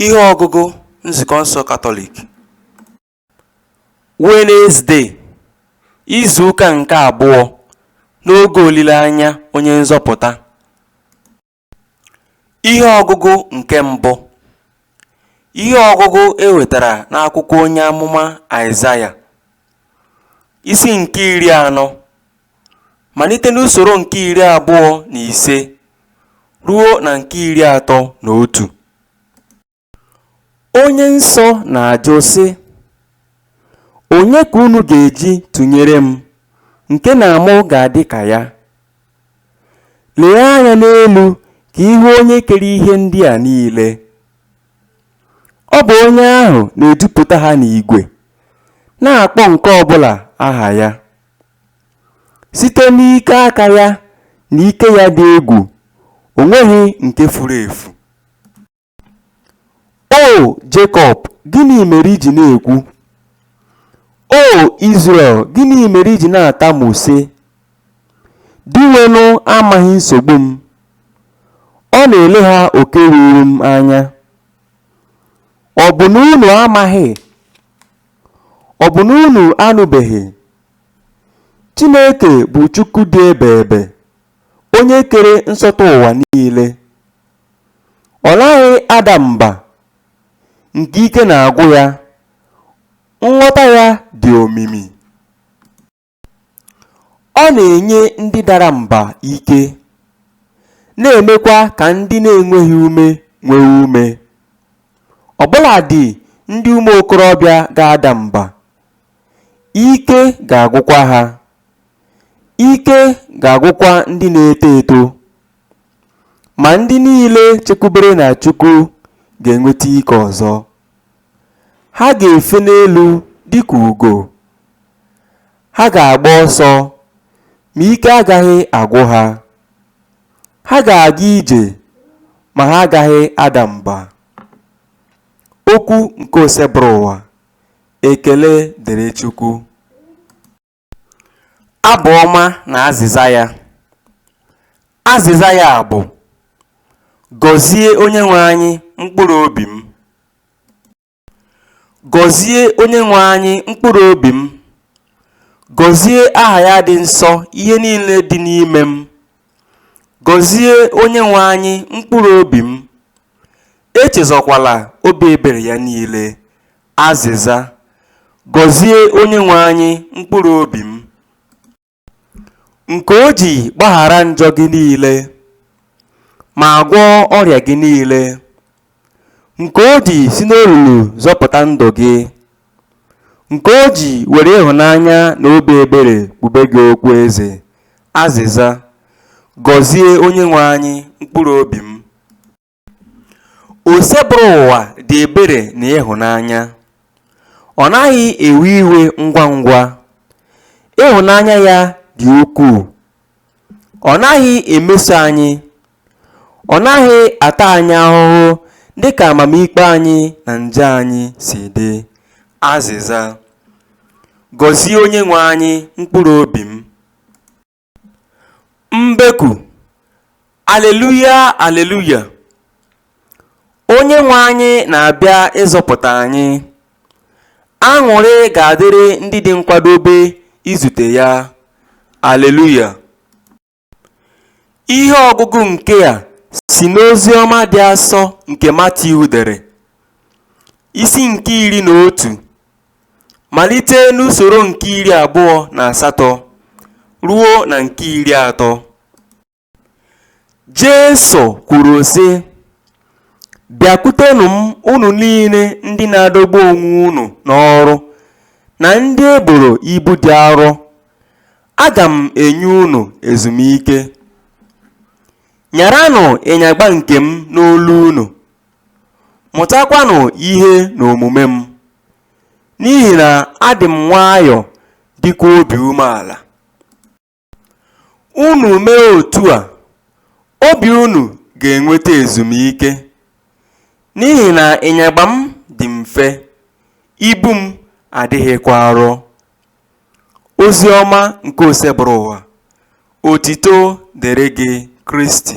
Ihe ọgụgụ Nzukọ nsọ Katọlik Wenezde, izu ụka nke abụọ n'oge olileanya Onye Nzọpụta. Ihe ọgụgụ nke mbụ Ihe ọgụgụ e wetara n'akwụkwọ onye amụma Aịzaya, isi nke iri anọ. malite n'usoro nke iri abụọ na ise ruo na nke iri atọ na otu. Onye nsọ na-ajụ sị, Onye ka unu ga-eji tụnyere m, nke na mụ ga-adị ka ya? Lee anya n'elu ka ị hụ onye kere ihe ndị a niile. Ọ bụ onye ahụ na-edupụta ha n'igwe, na-akpọ nke ọ bụla aha ya. Site n'ike aka ya na ike ya dị egwu, o nweghị nke furu efu. O Jekọb, gịnị mere i ji na-ekwu? O Izrel, gịnị mere i ji na-atamu sị, Dinwenụ amaghị nsogbu m, ọ na-elegha oke ruuru m anya? Ọ bụ na unu amaghị Ọ bụ na unu anụbeghị? Chineke bụ Chukwu dị ebeebe, onye kere nsọtụ ụwa niile. Ọ naghị ada mba nke ike na-agwụ ya, nghọta ya dị omimi. Ọ na-enye ndị dara mba ike, na-emekwa ka ndị na-enweghị ume nwee ume. Ọ bụladị ndị ụmụ okorobịa ga-ada mba, ike ga-agwụkwa ha. Ike ga-agwụkwa ndị na-eto eto. Ma ndị niile chekwubere na Chukwu ga-enweta ike ọzọ. Ha ga-efe n'elu dịka ugo, ha ga-agba ọsọ, ma ike agaghị agwụ ha. Ha ga-aga ije, ma ha agaghị ada mba. Okwu nke Osebụrụwa. Ekele dịrị Chukwu. Abụ ọma na azịza ya. Azịza ya bụ Gọzie Onyenwe anyị mkpụrụ obi m. Gọzie Onyenwe anyị mkpụrụ obi m. Gọzie aha ya dị nsọ ihe niile dị n'ime m. Gọzie Onyenwe anyị mkpụrụ obi m. Echezọkwala obi ebere ya niile. Azịza, Gọzie Onyenwe anyị mkpụrụ obi m, nke o ji gbaghara njọ gị niile, ma gwọọ ọrịa gị niile, nke o ji si n'olulu zọpụta ndụ gị, nke o ji were ịhụnanya na obi ebere kpube gị okpu eze. Azịza, Gọzie Onyenwe anyị mkpụrụ obi m. Osebụrụwa dị ebere na ịhụnanya. Ọ naghị ewe iwe ngwa ngwa. Ịhụnanya ya dị ukwuu. Ọ naghị emeso anyị. Ọ naghị ata anyị ahụhụ dị ka amamikpe anyị na njọ anyị si dị. Azịza. Gọzie Onyenwe anyị, mkpụrụ obi m. Mbeku Aleluya Aleluya Onyenwe anyị na-abịa ịzọpụta anyị Aṅụrị ga-adịrị ndị dị nkwadobe izute ya Aleluya Ihe ọgụgụ nke a si n'ozi ọma dị asọ nke Matiu dere, isi nke iri na otu. malite n'usoro nke iri abụọ na asatọ ruo na nke iri atọ. Jesu kwuru, sị, Bịakwutenụ m unu niile ndị na-adọgbu onwe unu n'ọrụ na ndị e boro ibu dị arọ, aga m enye unu ezumike. Nyaranụ ịnyagba nke m n'olu unu, mụtakwanụ ihe n'omume m. N'ihi na adị m nwayọọ dịkwa obi umeala. Unu mee otu a, obi unu ga-enweta ezumike. N'ihi na ịnyagba m dị mfe, ibu m adịghịkwa arọ. Ozi ọma nke Osebụrụwa. Otito dịrị gị Kristi.